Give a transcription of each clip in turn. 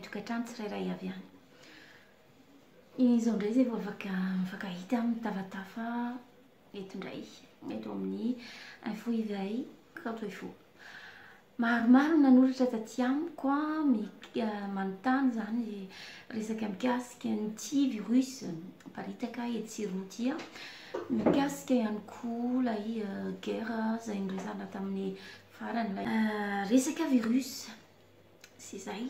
tokantrano tsirairay avy any izao indray zay vao afaka mifankahita amin'ny tafatafa eto indray eto amin'ny info izahay kanto info Maromaro ny nanoratra taty amiko manontany izany resaka mikasika ny tsy virus miparitaka etsy Rotia, mikasika ihany koa ilay guerre izay noresahana tamin'ny farany, ilay resaka virus sy izay.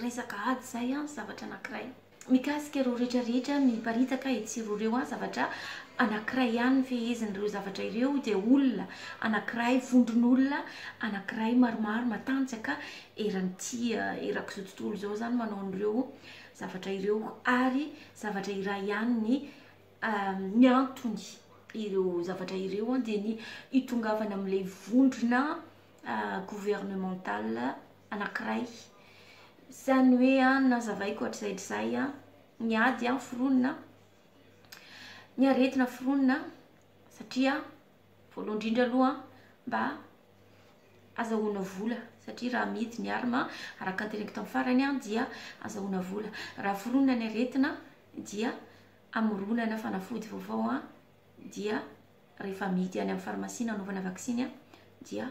Resaka ady izay an, zavatra anankiray. Mikasika ireo rehetra rehetra miparitaka etsy sy eroa ireo an, zavatra anankiray ihany ny fehezin'ireo zavatra ireo dia olona anankiray, vondron'olona anankiray maromaro matanjaka eran'ity erak'izao tontolo izao izany manao an'ireo zavatra ireo. Ary zavatra iray ihany ny ny antony ireo zavatra ireo an dia ny hitongavana amin'ilay vondrona gouvernemental anankiray. Izany hoe an, nazavaiko hatrizay hatrizay an, ny ady an foronina, ny aretina foronina, satria voalohany indrindra aloha mba azahoana vola satria raha amidy ny arma araka ny teneniko tamin'ny farany an dia azahoana vola. Raha foronina ny aretina dia amoronana fanafody vaovao an dia rehefa amidy any amin'ny farmasia nanaovana vaksiny an dia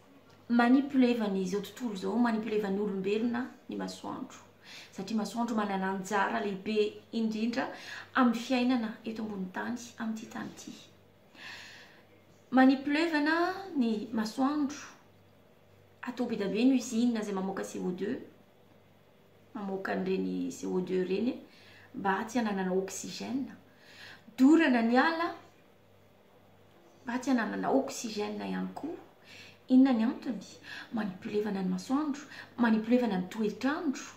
Manipuleva ny izao tontolo izao, manipuleva ny olombelona ny masoandro. Satria masoandro manana anjara lehibe indrindra amin'ny fiainana eto ambony tany amin'ity tany ity. Manipulevana ny masoandro, atao be dia be ny usine izay mamoaka CO2, mamoaka an'ireny CO2 ireny mba tsy hananana oxygène. Dorana ny ala Mba tsy hananana oxygène ihany koa. Inona ny antony? Manipulevana ny masoandro, manipulevana ny toetr'andro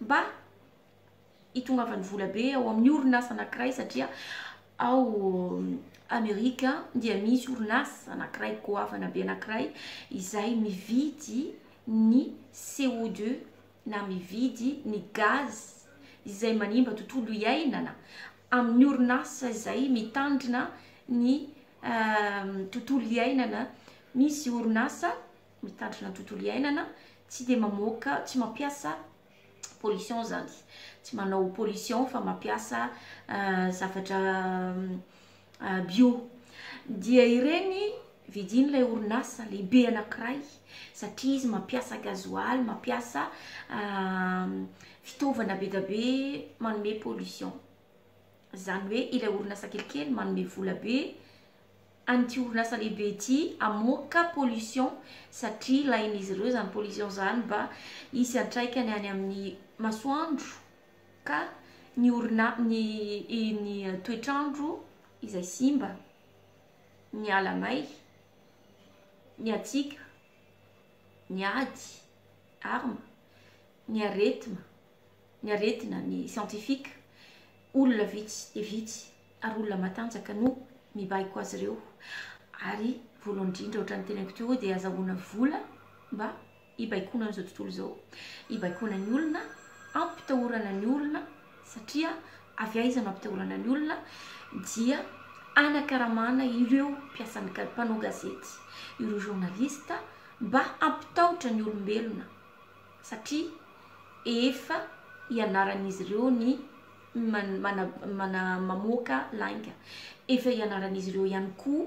mba hitongavan'ny vola be ao amin'ny orinasa anankiray satria ao Amerika dia misy orinasa anankiray goavana be anankiray izay mividy ny CO2. na mividy ny gaz izay manimba tontolo iainana amin'ny orinasa izay mitandrina ny tontolo iainana, misy orinasa mitandrina ny tontolo iainana tsy dia mamoaka, tsy mampiasa pollution izany, tsy manao pollution fa mampiasa zavatra bio dia ireny vidin'ilay orinasa lehibe anankiray satria izy mampiasa gasoil, mampiasa fitaovana be dia be manome pollution. Izany hoe ilay orinasa kelikely manome vola be an'ity orinasa lehibe ity hamoaka pollution satria ilain'izy ireo izany pollution izany mba hisy antraikany any amin'ny masoandro. ka ny orina ny ny toetr'andro izay simba, ny ala may, ny hatsiaka, ny ady, armes, ny aretina, ny aretina, ny scientifique, olona vitsy dia vitsy ary olona matanjaka no mibaiko azy ireo ary voalohany indrindra ohatran'ny teneniko teo dia azahoana vola mba hibaikoana an'izao tontolo izao, hibaikoana ny olona, hampitahorana ny olona satria avy aiza no hampitahorana ny olona dia hanakaramana ireo mpiasan'ny ga- mpanao gazety, ireo journaliste mba hampitahotra ny olombelona satria efa ianaran'izy ireo ny man- mana- mana- mamoaka lainga, efa ianaran'izy ireo ihany koa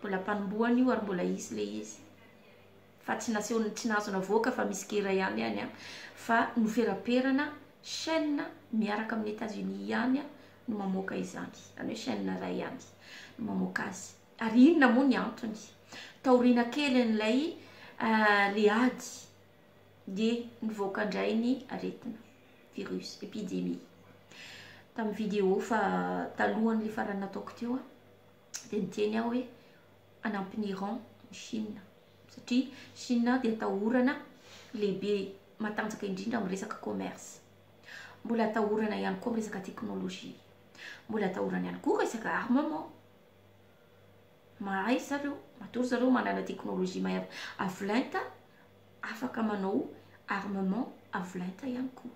Mbola mpanombohany io ary mbola hisy le izy fa tsy nasehony tsy nahazo navoaka fa misy gera ihany any an fa noferaperana chaine miaraka amin'ny Etats Unis ihany an no mamoaka izany zany hoe chaine iray ihany no mamoaka azy ary inona moa ny antony taoriana kely an'ilay le ady dia nivoaka indray ny aretina virus epidemie tamin'ny vidéo fa talohan'ilay farany nataoko teo an dia niteny aho hoe hanampy ny Iran ny Chine satria Chine dia atahorana lehibe matanjaka indrindra amin'ny resaka commerce. Mbola atahorana ihany koa amin'ny resaka teknolojia. Mbola atahorana ihany koa resaka armement. Mahay zareo, matoa zareo manana teknolojia mahay avo lenta, afaka manao armement avo lenta ihany koa.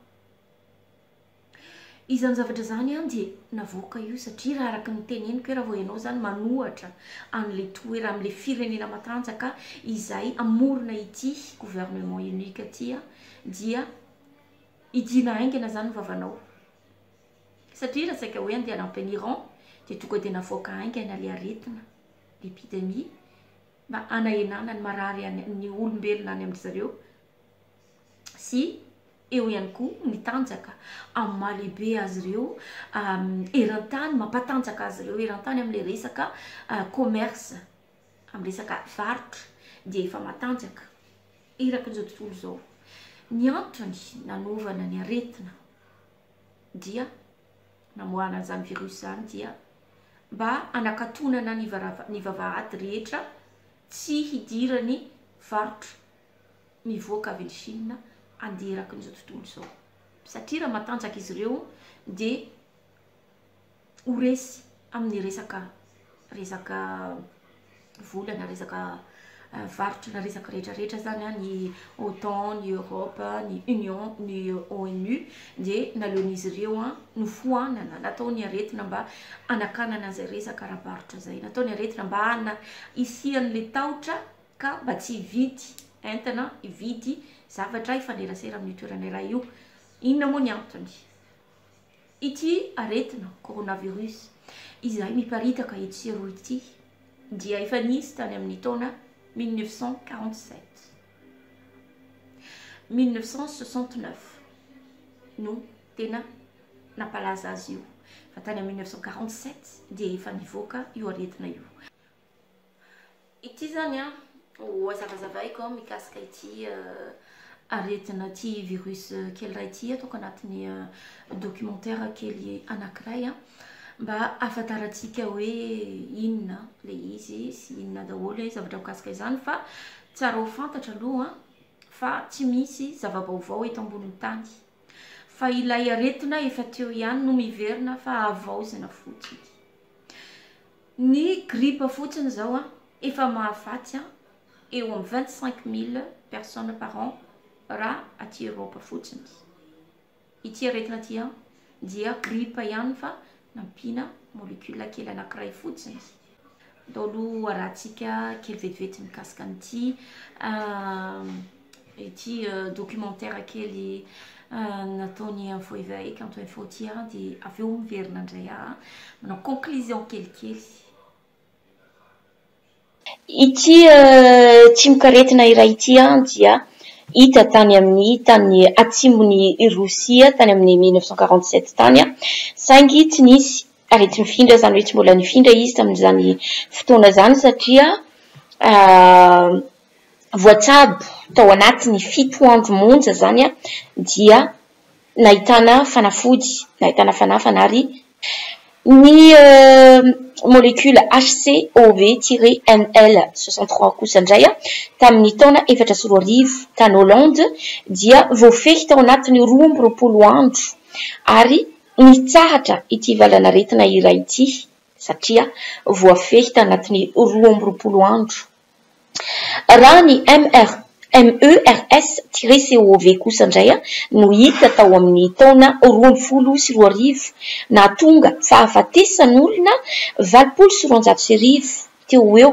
Izany zavatra izany an dia navoaka io satria raha araka ny teneniko hoe raha vao ianao izany manohatra an'ilay toerana, amin'ilay firenena matanjaka izay hamorona ity gouvernement unique ity an, dia hidiana haingana izany ny vavanao. Satria raha saika hoe handeha hanampy an'i Iran dia tonga dia navoaka haingana ilay aretina, ilay epidemie, mba hanahenana ny marary any, ny olombelona any amin-dry zareo. sy eo ihany koa ny tanjaka amin'ny maha lehibe azy ireo eran-tany, mampatanjaka azy ireo eran-tany amin'ilay resaka commerce, amin'ny resaka varotra dia efa matanjaka erakin'izao tontolo izao. Ny antony nanaovana ny aretina dia namoahana an'izany virus izany dia mba hanakatonana ny varava- ny vavahady rehetra tsy hidiran'ny varotra. mivoaka avy any Chine handeha erakin'izao tontolo izao. Satria raha matanjaka izy ireo dia ho resy amin'ny resaka resaka vola na resaka varotra na resaka rehetra rehetra zany a, ny otan, ny Europe, ny union, ny ONU dia naleon'izy ireo a nofoanana, nataony aretina mba hanakanana an'izay resaka ara-barotra izay, nataony aretina mba hana- hisian'le tahotra ka mba tsy hividy entana, hividy zavatra hifanerasera amin'io toerana iray io. Inona moa ny antony? Ity aretina coronavirus izay miparitaka etsy sy eroa ity dia efa nisy tany amin'ny taona mille neuf cent quarante sept, mille neuf cent soixante neuf no tena nampalaza azy io fa tany amin'ny mille neuf cent quarante sept dia efa nivoaka io aretina io. Ity izany an, ho hazavazavaiko an, mikasika ity aretina ity virus kely iray ity ataoko anatin'ny documentaire kely anankiray an, mba ahafantarantsika hoe inona ilay izy sy inona daholo ilay zavatra mikasika izany. Fa tsara ho fantatra aloha an, fa tsy misy zava-baovao eto ambonin'ny tany, fa ilay aretina efa teo ihany no miverina fa havaozina fotsiny. Ny grippe fotsiny izao an, efa mahafaty an eo amin'ny vingt cinq mille personnes par an raha aty Europe fotsiny. Ity aretina ity an dia grippe ihany fa nampiana molecule kely anankiray fotsiny. Atao aloha arahantsika kely vetivety mikasika an'ity. Ity documentaire kely nataon'i info éveil kanto info ity aho dia avy eo miverina indray aho manao conclusion kelikely. Ity tsimokaretina iray ity dia hita tany amin'ny tany atsimon'i Rosia tany amin'ny mille neuf cent quarante sept tany saingy tsy nisy areti-mifindra izany hoe tsy mbola nifindra izy tamin'izany fotoana izany satria Voatsabo tao anatin'ny fito andro monja izany dia nahitana fanafody, nahitana fanafana ary ny molecule HCOV tiret NL soixante trois kosa indray tamin'ny taona efatra sy roa arivo tany Hollande dia voafehy tao anatin'ny roa amby roapolo andro ary nitsahatra ity valanaretina iray ity satria voafehy tanatin'ny roa amby roapolo andro Raha ny MERS-CoV kosa indray no hita tao amin'ny taona roa ambin'ny folo sy roa arivo, nahatonga fahafatesan'olona valopolo sy roanjato sy arivo teo ho eo,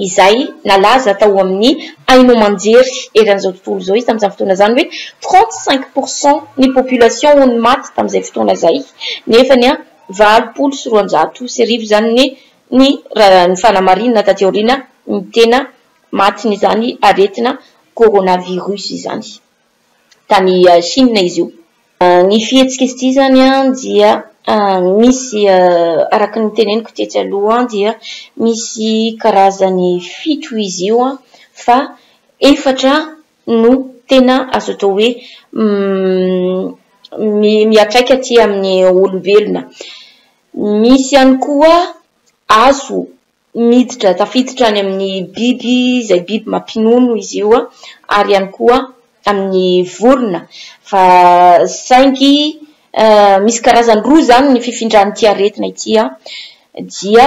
izay nalaza tao amin'ny haino aman-jery eran'izao tontolo izao izy tamin'izany fotoana izany hoe trente cinq pour cent ny population no maty tamin'izay fotoana izay, nefa ny valopolo sy roanjato sy arivo izany ny. ny raha ny fanamarinana taty aoriana ny tena matin'izany aretina coronavirus izany. Tany Chine izy io. Ny fihetsik'izy ity izany dia misy araka ny noteneniko tetsy aloha dia misy karazany fito izy io fa efatra no tena azo atao hoe miatraika aty amin'ny olombelona. Misy ihany koa azo miditra tafiditra any amin'ny biby izay biby mampinono izy io ary ihany koa amin'ny vorona fa saingy misy karazany roa izany ny fifindran'ity aretina ity dia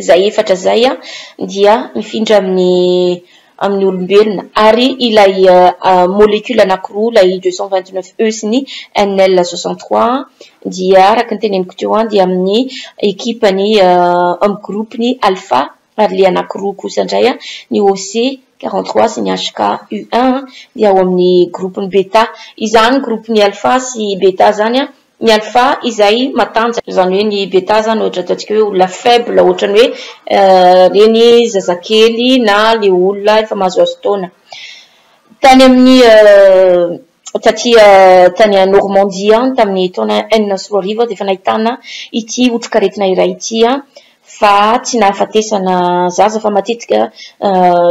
izay efatra izay dia mifindra amin'ny amin'ny olombelona ary ilay molecule anankiroa ilay deux cent vingt neuf E sy ny NL soixante trois dia araka ny teneniko teo an dia amin'ny ekipa ny amin'ny groupe ny alpha ary ilay anankiroa kosa indray an ny OC quarante trois sy ny HK U un dia ao amin'ny groupe ny beta izany groupe ny alpha sy beta izany an ny alpha izay matanjaka, izany hoe ny beta zany ohatra ataontsika hoe olona faible ohatrany hoe ireny zazakely na le olona efa mahazoazo taona, tany amin'ny taty tany Normandie any tamin'ny taona enina sy roa arivo aho dia efa nahitana ity otrikaretina iray ity aho, fa tsy nahafatesana zaza fa matetika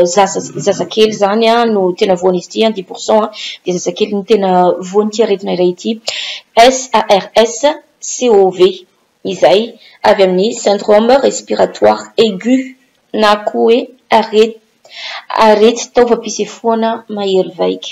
zaza zazakely izany no tena voan'izy ity, dix pour cent dia zazakely no tena voan'ity aretina iray ity, SARS CoV, izay avy amin'ny syndrome respiratoire aigu na koa hoe arety taovam-pisefoana mahery vaika.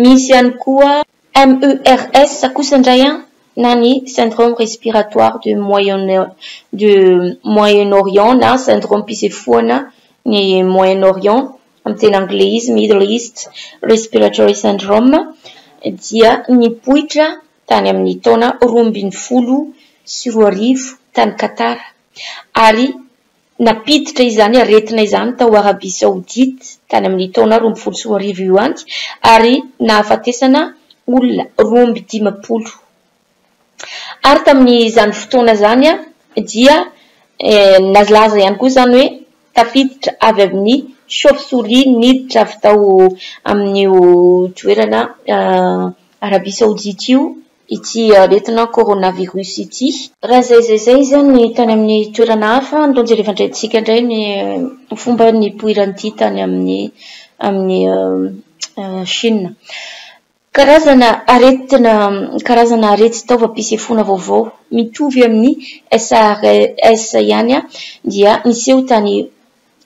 Misy ihany koa MERS kosa indray an, na ny Syndrome Respiratoire du du Moyen-Orient na Sindromim-pisefoana ny Moyen-Orient, amin'ny teny anglais izy, Middle East Respiratory Syndrome, dia nipoitra tany amin'ny taona roa ambin'ny folo sy roa arivo tany Qatar, ary Nampiditra izany aretina izany tao Arabia Saodita tany amin'ny taona roa ambin'ny folo sy roa arivo io ihany ary nahafatesana olona roa amby dimampolo Ar tamin'izany fotoana izany dia nalaza ihany koa izany hoe tafiditra avy amin'ny chauve-souris niditra avy tao amin'io toerana Arabia Saodita io ity aretina coronavirus ity. Raha izay izay izay izany tany amin'ny toerana hafa andao jereva indray tsika indray ny fomba nipoiran'ity tany amin'ny amin'ny Chine. Karazana aretina karazana arety taovam-pisefoana vaovao mitovy amin'ny SARS ihany dia niseho tany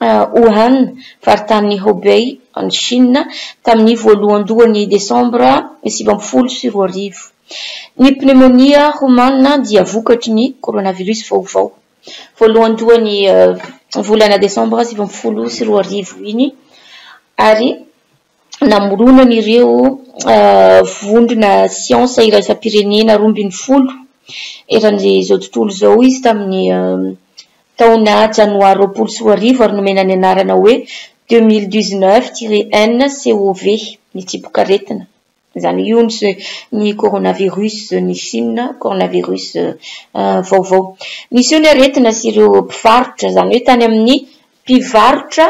Wuhan, faritanin'i Hubei, any Shina, tamin'ny voalohandohan'ny Desambra sivy ambin'ny folo sy roa arivo. Ny pnemonia homana dia vokatry ny coronavirus vaovao, voalohandohan'ny volana Desambra sivy ambin'ny folo sy roa arivo iny, ary. namoronany ireo vondrona siansa iraisam-pirenena roa ambin'ny folo eran'izao tontolo izao izy tamin'ny taona janoary roapolo sy roa arivo ary nomena ny anarana hoe deux mille dix-neuf tiret un COV, ny tsibokaretina. Izany hoe io ny ny coronavirus ny Chine, coronavirus vaovao. Niseho ny aretina sy ireo mpivarotra, izany hoe tany amin'ny mpivarotra.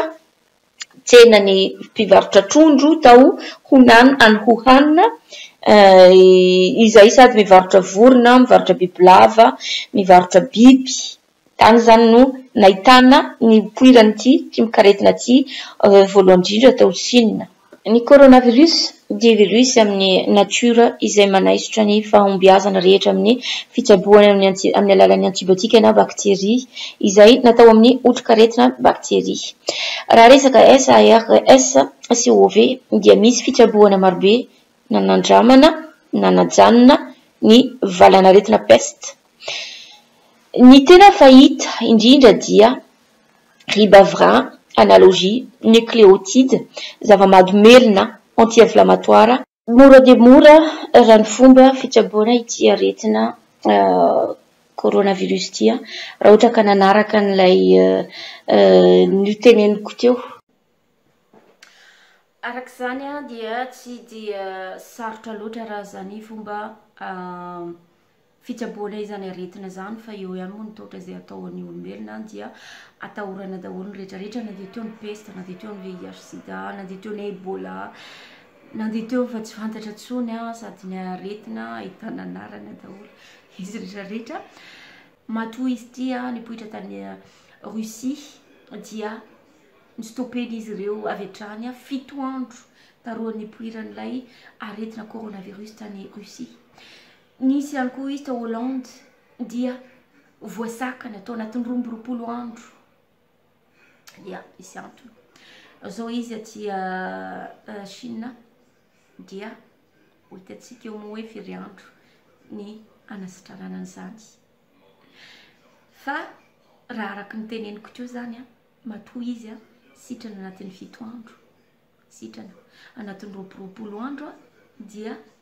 tsenan'ny mpivarotra trondro tao Hunan any Wuhan, izay sady mivarotra vorona, mivarotra bibilava, mivarotra biby. Tany izany no nahitana nipoiran'ity trimokaretina ity voalohany indrindra tao Shina. Ny coronavirus Dia velio izy amin'ny natiora izay manaisotra ny fahombiazana rehetra amin'ny fitsaboana amin'ny amin'ny alalan'ny antibiotika na bakteria izay natao amin'ny otrikaretina bakteria. Raha resaka SARS CoV dia misy fitsaboana marobe nanandramana na najanona ny valanaretina peste. Ny tena fahita indrindra dia. Ribavira, analogie, nucléotide, zava-mahadomelina, anti-inflammatoire, Mora dia mora raha ny fomba fitsaboana ity aretina coronavirus ity raha ohatra ka nanaraka an'ilay noteneniko teo. Araka izany dia tsy dia sarotra loatra raha izany fomba fitsaboana izany aretina izany fa eo ihany moa ny taotra izay atao an'ny olombelona any dia atahorana daholo ny rehetra rehetra na dia teo ny pesta na dia teo ny VIH sida na dia teo ny ebola na dia teo fa tsy fantatra tsony an sady ny aretina ahitana anarana daholo izy rehetra rehetra matoa izy tia nipoitra tany Russie dia ny stopeny izy ireo avy hatrany an fito andro taroan'ny poiran'ilay aretina coronavirus tany Russie Nisy ihany koa izy tao Hollande dia voasakana tao anatin'ny roa amby roapolo andro. Dia misy antony. Izao izy aty Chine dia ho hitantsika eo moa hoe firy andro ny hanasitranana an'izany. Fa raha araka ny teneniko teo izany a, matoa izy a, sitrana anatin'ny fito andro, sitrana anatin'ny roapy roapolo andro a, dia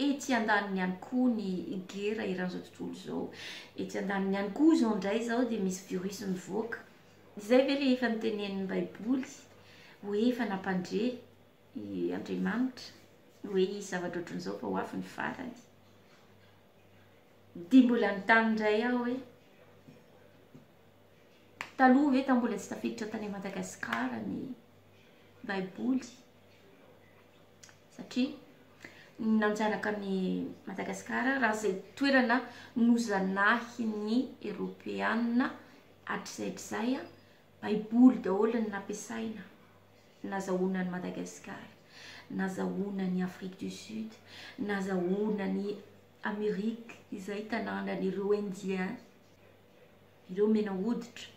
Etsy andaniny ihany koa ny gera eran'izao tontolo izao. Etsy andaniny ihany koa izao indray izao dia misy virus mivoaka. Izay ve ilay efa notenenin'ny Baiboly hoe efa nampandre i Andriamanitra hoe hisy zavatra ohatran'izao fa ho avy ny farany? Dia mbola nitany indray aho hoe taloha ve mbola tsy tafiditra tany Madagasikara ny Baiboly? satria nanjanaka an'i Madagasikara raha izay toerana nozanahin'ny Eropeana hatrizay hatrizay, Baiboly daholo no nampiasaina nazahoana an'i Madagasikara, nazahoana an'i Afrique du Sud, nazahoana an'i Amerika izay tanànan'ireo Indiens, ireo mena hoditra,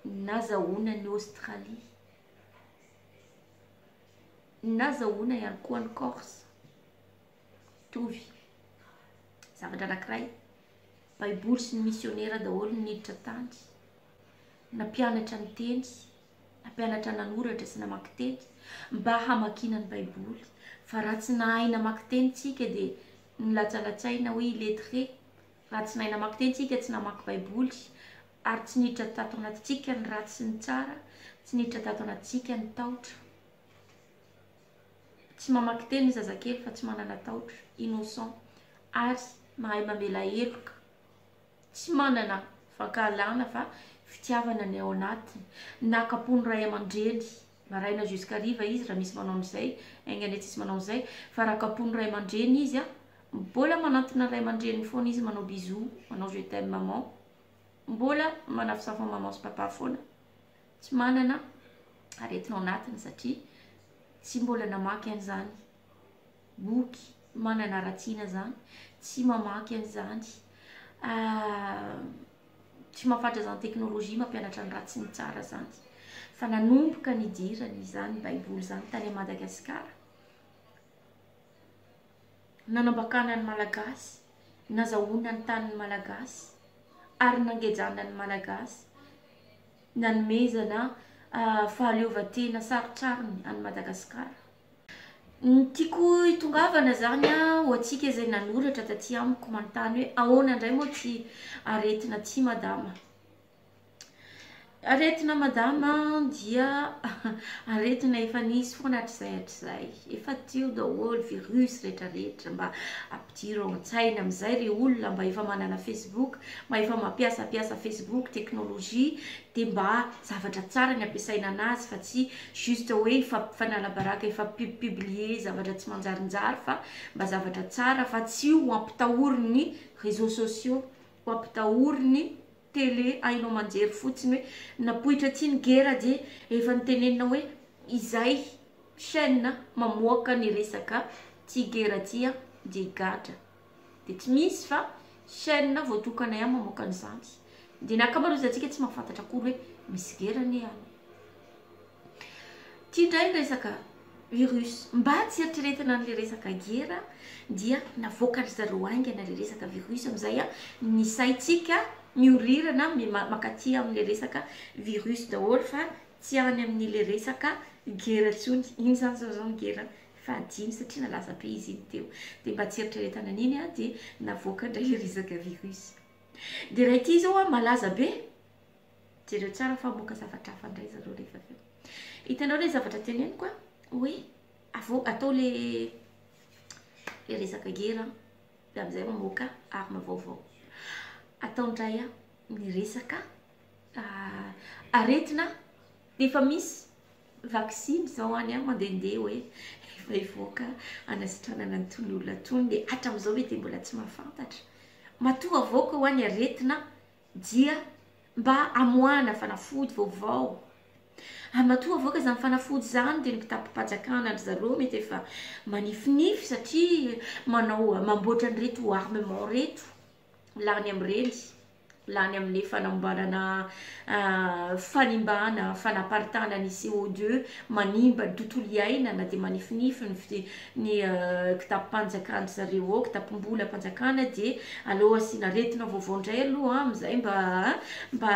nazahoana an'i Aostralia. Nazahoana ihany koa an'i Corse. Mitovy. Zavatra anankiray. Baiboly sy ny misionera daholo no niditra tany. Nampianatra niteny, nampianatra nanoratra sy namaky teny mba hamakiana ny Baiboly. Fa raha tsy nahay namaky teny isika dia nilatsalatsaina hoe illettré. Raha tsy nahay namaky teny isika, tsy namaky Baiboly, ary tsy niditra tato anatintsika ny ratsy sy ny tsara, tsy niditra tato anatintsika ny tahotra. Tsy mamaky teny ny zazakely fa tsy manana tahotra, innocent, ary mahay mamela heloka, tsy manana fankahalana fa fitiavana ny ao anatiny, naka-po ny ray aman-dreny, Maraina jusqu'hariva izy raha misy manao an'izay, enga anie tsisy manao an'izay, fa raha kapohin'ny ray aman-dreny izy an, mbola manantona ny ray aman-dreniny foana izy manao bisous, manao je t'aime maman, mbola manafosafo an'i maman sy papa foana, tsy manana aretina ao anatiny satria tsy mbola namaky an'izany. boky manana ratsina zany tsy mamaky an'izany tsy mafatra zany teknolojia mampianatra ny ratsy ny tsara zany fa nanomboka nidirany izany baiboly zany tany a madagasikara nanambakana ny malagasy nazahoana ny tanin'ny malagasy ary nangejana ny malagasy nanomezana ah, fahaleovantena sarotsarony any madagasikara Ny tiako hitongavana izany an, ho antsika izay nanoratra taty amiko manontany hoe ahoana indray moa ity aretina ity madama? Aretina madama dia aretina efa nisy foana hatrizay hatrizay, efa teo daholo virus rehetrarehetra, mba ampidiro ao an-tsaina amin'izay ry olona mba efa manana facebook, mba efa mampiasam-piasa facebook, teknolojia, dia mba zavatra tsara ny ampiasaina anazy fa tsy juste hoe hifampifanaalabaraka hifampippiblier zavatra tsy manjarinjary fa mba zavatra tsara fa tsy ho ampitahory ny réseaux sociaux ho ampitahory ny télé haino amanjery fotsiny hoe napoitra aty ny guerre dia efa nitenenina hoe izay chaine mamoaka ny resaka ty guerre ty dia gadra Dia tsy misy fa chaîne voatokana ihany mamoaka an'izany. Dia ny ankamaroantsika tsy mahafantatra akory hoe misy gera anie any. Ity indray ny resaka virus. Mba tsy eritreretina an'ilay resaka gera dia navoaka ry zareo haingana ilay resaka virus amin'izay ny saintsika mihorirana mankaty amin'ilay resaka virus daholo fa tsy any amin'ilay resaka gera intsony. Inona izany izao izao ny gera fahadimy satria nalaza be izy iny teo dia mba tsy eritreretana an'iny aho dia navoaka indray le resaka virus dia raha ity izao a malaza be jereo tsara fa hamoaka zavatra hafa indray zareo rehefa avy eo hitanao le zavatra teneniko a hoe avao atao le le resaka gera dia amin'izay mamoaka arme vaovao atao indray a ny resaka ah, aretina efa misy Vaksiny zao any an mandehandeha hoe efa hivoaka hanasitranana ny tony olona tony dia hatramizao ve dia mbola tsy mahafantatra? Matoa avoaka hoa ny aretina dia mba amoahana fanafody vaovao ary matoa avoaka zany fanafody zany dia ny mpitapim-pajakana ndry zareo mety efa manifinify satria manao mamboatra an'ireto armement reto. lany amin'ireny, lany amin'ilay fanamboarana fanimbana, fanaparitahana ny CO2, manimba ny tontolo iainana dia manifinify ny fi- ny kitapom-panjakana zareo ao, kitapom-bolam-panjakana dia aleo asiana aretina vaovao indray aloha amin'izay mba a mba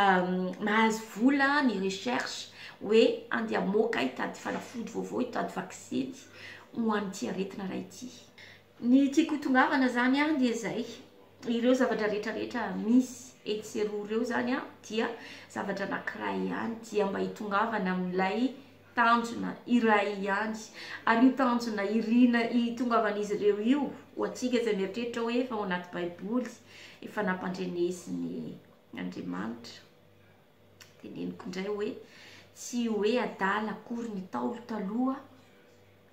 mahazo vola ny recherche hoe andeha hamoaka hitady fanafody vaovao, hitady vaksiny ho an'ity aretina iray ity. Ny tiako hitongavana zany an dia zay, ireo zavatra rehetra rehetra misy etsy sy eroa ireo zany an dia zavatra anakiray ihany dia mba hitongavana amin'ilay tanjona iray ihany, ary io tanjona iriana hitongavan'izy ireo io ho antsika izay mieritreritra hoe efa ao anaty baiboly efa nampandrenesiny Andriamanitra, teneniko indray hoe tsy hoe adala akory ny ntaolo taloha,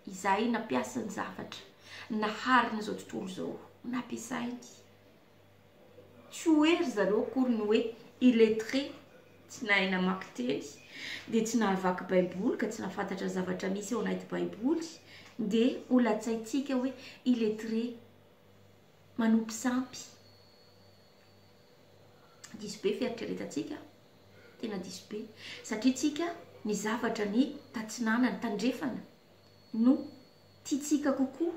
izay nampiasany zavatra nahariny izao tontolo izao nampiasainy. Tsy ho hoe ry zareo akory ny hoe illettré, tsy nahay namaky teny, dia tsy nahavaky Baiboly ka tsy nahafantatra ny zavatra misy ao anaty Baiboly, dia ho latsaintsika hoe illettré, manompo sampy. Diso be fieritreretantsika, tena diso be, satria tsika ny zavatra ny tatsinanana, tandrefana no tiantsika kokoa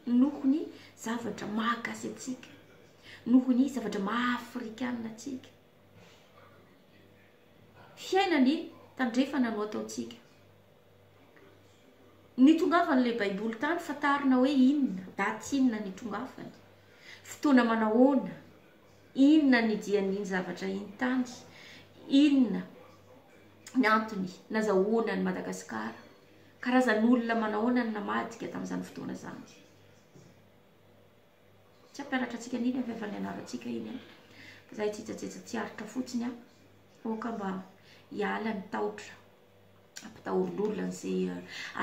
noho ny zavatra maha gasy antsika, noho ny zavatra maha afrikana antsika. Fiaina ny tandrefana no ataontsika. Nitongavan'ilay Baiboly tany fa tarina hoe inona, daty inona nitongavany, fotoana manahoana, inona ny dian'iny zavatra iny tany, inona ny antony nazahoany an'i Madagasikara, karazan'olona manahoana no namadika tamin'izany fotoana izany. Tsy hampianatra antsika an'iny aho efa nianarantsika iny an! Fa izaho hitsetsajetsa tsiaritra fotsiny an! Aoka mba hiala ny tahotra. mpitahorolorona an'izay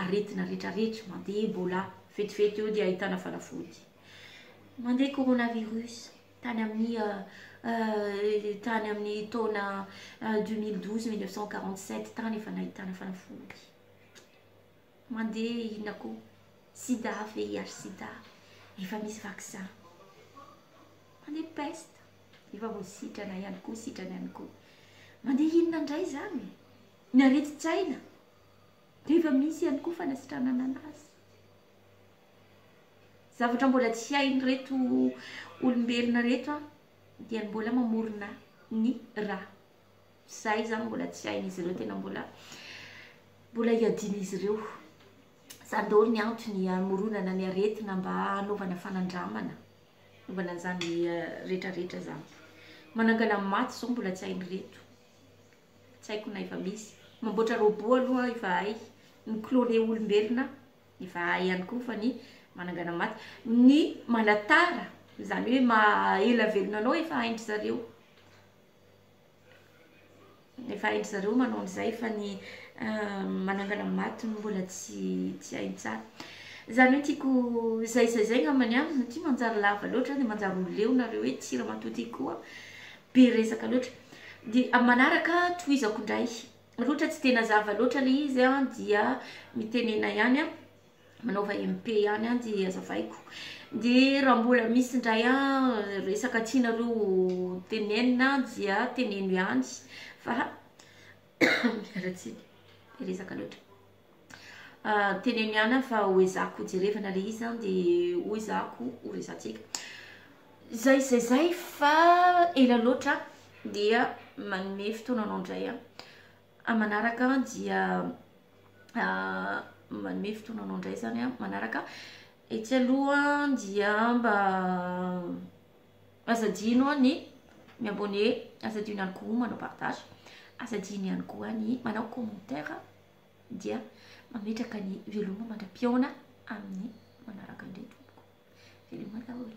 aretina retraretra mandeha Ebola vetivety eo dia ahitana fanafody mandeha coronavirus tany amin'ny tany amin'ny taona 2012 1947 tany efa nahitana fanafody mandeha inona koa sida VIH sida efa misy vaccin mandeha peste efa voasitrana ihany koa sitrana ihany koa mandeha inona indray izany Ny aretin-tsaina dia efa misy ihany koa fanasitranana anazy. Zavatra mbola tsy hain'ireto olombelona ireto dia ny mbola mamorona ny ra. Izay izany mbola tsy hain'izy ireo, tena mbola mbola iadian'izy ireo. Izany daholo ny antony hamoronana ny aretina mba hanaovana fanandramana, hanaovana an'izany rehetrarehetra izany. Manangana maty izao mbola tsy hain'ireto. Tsy haiko na efa misy. Mamboatra robot aloha ivahay. Mi-cloner olombelona ivahay ihany koa fa ny manangana maty. Ny manatara, izany hoe maha-ela velona anao efa hain-dry zareo. Efa hain-dry zareo manao an'izay fa ny manangana maty no mbola tsy tsy hainy tsara. Izany hoe tiako izay izay izay angambany an, ity manjary lava loatra dia manjary ho leo nareo etsy, ramatoa ty koa. Be resaka loatra. Dia amin'ny manaraka tohizako indray. Loatra tsy dia nazava loatra ilay izy a, dia mitenena ihany aho, manaova MP ihany aho dia azavaiko. Dia raha mbola misy indray resaka tianareo ho tenenina dia teneno ihany fa miala tsiny. Be resaka loatra. Teneniana fa ho ezahiko jerevana le izy zany de ho ezahiko ho resatsika zay zay zay fa ela loatra dia manome fotoana anao ndray a a manaraka dia manome fotoana anao ndray zany a manaraka etsy aloha dia mba aza adino a ny mi abonner aza adino ihany koa manao partage aza adino ihany koa ny manao commentaire dia mametraka ny veloma mandra-pihaona amin'ny manaraka indray tompoko. Veloma daholo.